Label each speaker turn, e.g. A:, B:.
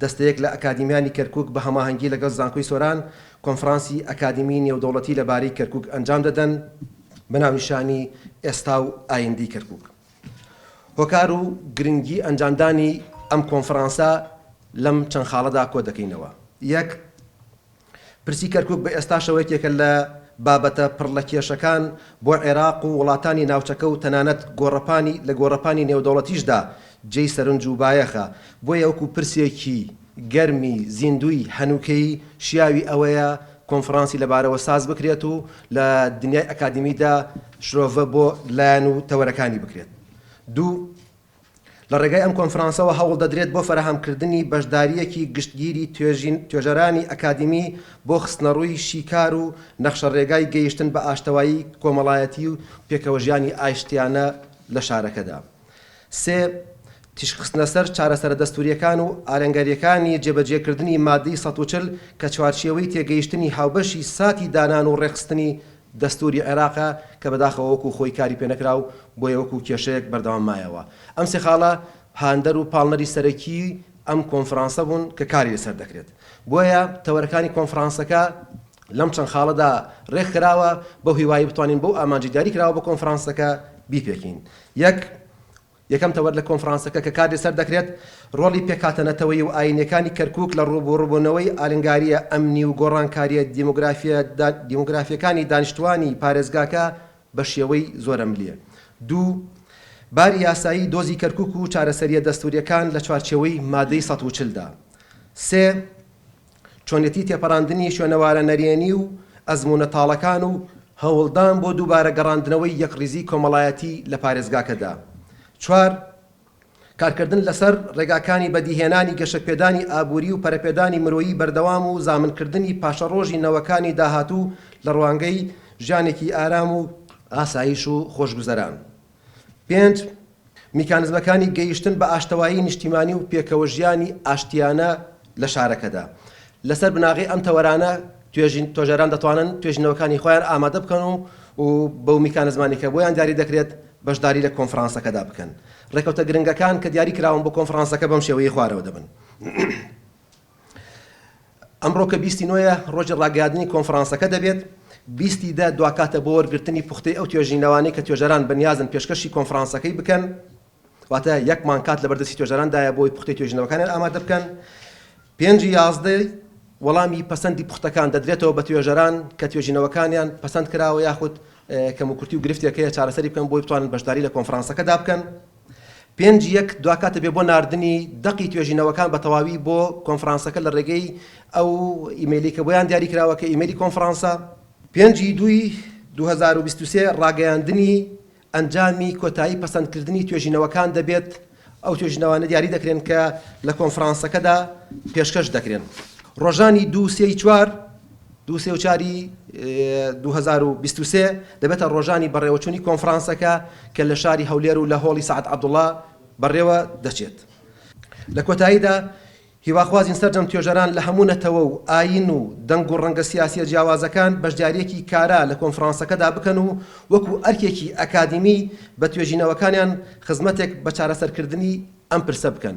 A: دەستەیەک لە ئەکادیمیانی کەرکووک بە هەماهەنگی لەگەڵ زانکۆی سۆران کۆنفرانسی ئەکادیمیی نێودەوڵەتی لەبارەی کەرکووک ئەنجام دەدەن بە ناونیشانی ئێستا و ئایندەی کەرکووک. هۆکار و گرنگی ئەنجامدانی ئەم کۆنفرانسە لەم چەند خاڵەدا کۆدەکەینەوە. یەک. پرسی کەرکوک بە ئێستاشەوە یەکێکە لە بابەتە پڕ لە کێشەکان بۆ عێراق و وڵاتانی ناوچەکە و تەنانەت گۆڕەپانی لە گۆڕەپانی نێودەوڵەتیشدا جێی سەرنج و بایەخە، بۆیە وەکو پرسێکی گەرمی زیندووی هەنووکەیی شیاوی ئەوەیە کۆنفرانسی لەبارەوە ساز بکرێت و لە دنیای ئەکادیمیدا شرۆڤە بۆ لایەن و تەوەرەکانی بکرێت. دوو. لە ڕێگای ئەم کۆنفرانسەوە هەوڵ دەدرێت بۆ فەراهەمکردنی بەشدارییەکی گشتگیری توێژین توێژەرانی ئەکادیمی بۆ خستنەڕووی شیکار و نەخشەڕێگای گەیشتن بە ئاشتەوایی کۆمەڵایەتی و پێکەوەژیانی ئاشتیانە لە شارەکەدا سێ تیشکخستنەسەر چارەسەرە دەستوورییەکان و ئالەنگارییەکانی جێبەجێکردنی مادەی سەد و چل کە چوارچێوەی تێگەیشتنی هاوبەشی ساتی دانان و ڕێکخستنی دەستووری عێراق کە بەداخەوە وەکو خۆی کاری پێ نەکرا و بۆیە وەکو کێشەیەک بەردەوام مایەوە. ئەم سێ خاڵە هاندەر و پاڵنەری سەرەکیی ئەم کۆنفرانسە بوون کە کاری لەسەر دەکرێت. بۆیە تەوەرەکانی کۆنفرانسەکە لەم چەند خاڵەدا رێک خراوە بەو هیوایەی بتوانین بەو ئامانجەی دیاری کراوە بۆ کۆنفرانسەکە بیپێکین. یەک. یەکەم تەوەر لە کۆنفرانسەکە کە کاردی سەر دەکرێت، ڕۆڵی پێکهاتە نەتەوەیی و ئایینیەکانی کەرکوک لە ڕووبوڕبوونەوەی ئالنگارییە ئەمنی و گۆڕانکارییە دیمۆگرافییەکانی دانیشتوانی پارێزگاکە بە شێوەی زۆرەملێ. دوو، باری یاسایی دۆزی کەرکوک و چارەسەرییە دەستورییەکان لە چوارچێوەی مادەی سەد و چل دا. سێ، چۆنێتی تێپەڕاندنی شوێنەوارە نەرێنی و ئەزموونە تاڵەکان و هەوڵدان بۆ دووبارە گەڕاندنەوەی یەکڕیزیی کۆمەڵایەتی لە پارێزگاکەدا. چوار، کارکردن لەسەر ڕێگاکانی بەدیهێنانی گەشەپێدانی ئابووری و پەرەپێدانی مرۆیی بەردەوام و زامنکردنی پاشەڕۆژی نەوەکانی داهاتوو لە ڕوانگەی ژیانێکی ئارام و ئاسایش و خۆشگوزەران. پێنج، میکانزمەکانی گەیشتن بە ئاشتەوایی نیشتیمانی و پێکەوەژیانی ئاشتیانە لە شارەکەدا. لەسەر بناغەی ئەم تەوەرانە توێژەران دەتوانن توێژینەوەکانی خۆیان ئامادە بکەن و و بەو میکانزمانی کە بۆیان دیاری دەکرێت بەشداری لە کۆنفرانسەکەدا بکەن. ڕێکەوتە گرنگەکان کە دیاری کراون بۆ کۆنفرانسەکە بەم شێوەیەی خوارەوە دەبن. ئەمڕۆ کە بیست ی نۆ یە ڕۆژی ڕاگەیادنی کۆنفڕانسەکە دەبێت، بیست ی دە دواکاتە بۆ وەرگرتنی پوختەی ئەو توێژینەوانەی کە توێژەران بەنیازن پێشکەشی کۆنفڕانسەکەی بکەن، واتە یەک مانگ کات لەبەر دەستی توێژەران دایە بۆ ئەوەی پوختەی توێژینەوەکانیان ئامادە بکەن. پێنج ی یازدە وەڵامی پەسەندی پوختەکان دەدرێتەوە بە توێژەران کە توێژینەوەکانیان پەسەند کراوە یاخود کەموکورتی و گرفتێک هەیە چارەسەری بکەن بۆی بتوانن بەشداری لە کۆنفڕانسەکەدا بکەن. پێنج یەک دواکات دەبێت بۆ ناردنی دەقی توێژینەوەکان بە تەواوی بۆ کۆنفرانسەکە لە ڕێگەی ئەو ئیمەیلی کە بۆیان دیاری کراوە کە ئیمەیلی کۆنفرانسە. پێنج ی دووی دوو هەزار و بیست و سێ ڕاگەیاندنی ئەنجامی کۆتایی پەسەندکردنی توێژینەوەکان دەبێت، ئەو توێژینەوانە دیاری دەکرێن کە لە کۆنفرانسەکەدا پێشکەش دەکرێن. ڕۆژانی دوو، سێ ی چوار. دوو سێوچاری دوو هەزار و بیست و سێ دەبێتە ڕۆژانی بەڕێوەچوونی کۆنفرانسەکە کە لە شاری هەولێر و لە هۆڵی سەعد عەبدوڵا بەڕێوە دەچێت. لە کۆتاییدا هیواخوازین سەرجەم توێژەران لە هەموو نەتەوە و ئایین و دەنگ و ڕەنگە سیاسییە جیاوازەکان بەشدارییەکی کارا لە کۆنفرانسەکەدا بکەن و وەکو ئەرکێکی ئەکادیمی بە توێژینەوەکانیان خزمەتێک بە چارەسەرکردنی ئەم پرسە بکەن.